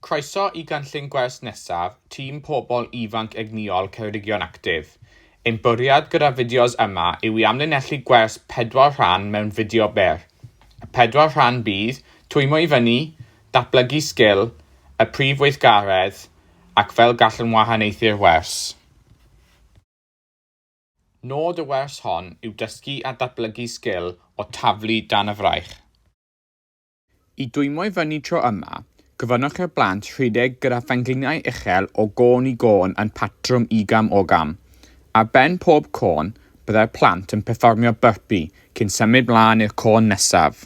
Croeso i gynllun gwers nesaf Tîm Pobl Ifanc Egnïol Ceredigion Actif. Ein bwriad gyda'r fideos yma yw i amlinellu gwers pedwar rhan mewn fideo byr. Y pedwar rhan bydd, Twymio i fyny, Datblygu sgil, Y prif weithgaredd, ac Fel gallwn wahaniaethu'r wers. Nod y wers hon yw dysgu a datblygu sgil o taflu dan y fraich. I dwymo i fyny tro yma, gofynnwch i'r blant rhedeg gyda phengliniau uchel o gôn i gôn yn patrwm ugam ogam. Ar ben pob côn, byddai'r plant yn perfformio burpee cyn symud mlaen i'r côn nesaf.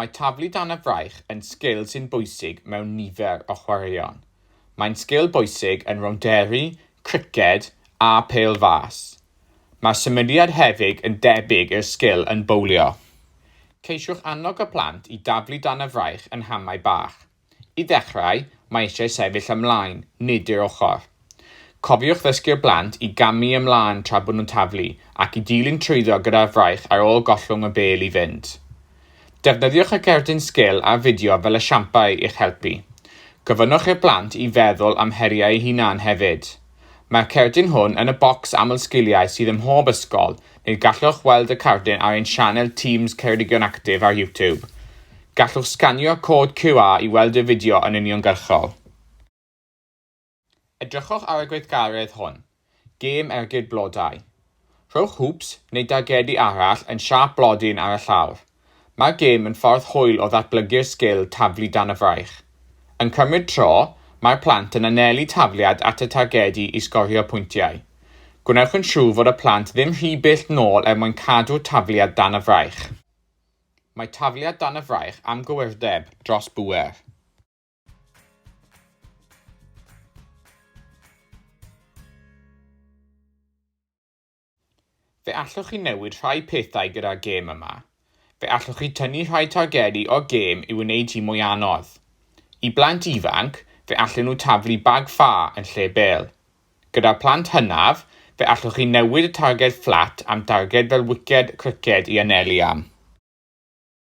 Mae taflu dan y fraich yn sgil sy'n bwysig mewn nifer o chwaraeon. Mae'n sgil bwysig yn rownderi, criced a phêl fas. Mae'r symudiad hefyd yn debyg i'r sgil yn bowlio. Ceisiwch annog y plant i daflu dan y fraich yn hamau bach. I ddechrau, mae eisiau sefyll ymlaen, nid i'r ochr. Cofiwch ddysgu'r blant i gamu ymlaen tra bod nhw'n taflu ac i dilyn trwyddo gyda'r fraich ar ôl gollwng y bêl i fynd. Defnyddiwch y cerdyn sgil a'r fideo fel esiampau i'ch helpu. Gofynnwch i'r blant i feddwl am heriau eu hunain hefyd. Mae'r cerdyn hwn yn y bocs amlsgiliau sydd ym mhob ysgol, neu gallwch weld y cardyn ar ein sianel Teams Ceredigion Actif ar YouTube. Gallwch sganio'r cod QR i weld y fideo yn uniongyrchol. Edrychwch ar y gweithgaredd hwn, Gêm Ergyd Blodau. Rhowch hwps neu dargedu arall yn siâp blodyn ar y llawr. Mae'r gêm yn ffordd hwyl o ddatblygu'r sgil taflu dan y fraich. Yn cymryd tro, mae'r plant yn anelu tafliad at y targedu i sgorio pwyntiau. Gwnewch yn siŵr fod y plant ddim rhy bell nôl er mwyn cadw'r tafliad dan y fraich. Mae tafliad dan y fraich am gywirdeb dros bŵer. Fe allwch chi newid rhai pethau gyda'r gêm yma. Fe allwch chi tynnu rhai targedu o'r gêm i wneud hi mwy anodd. I blant ifanc, fe allen nhw taflu bag ffa yn lle bêl. Gyda'r plant hynaf, fe allwch chi newid y targed fflat am darged fel wiced criced i anelu am.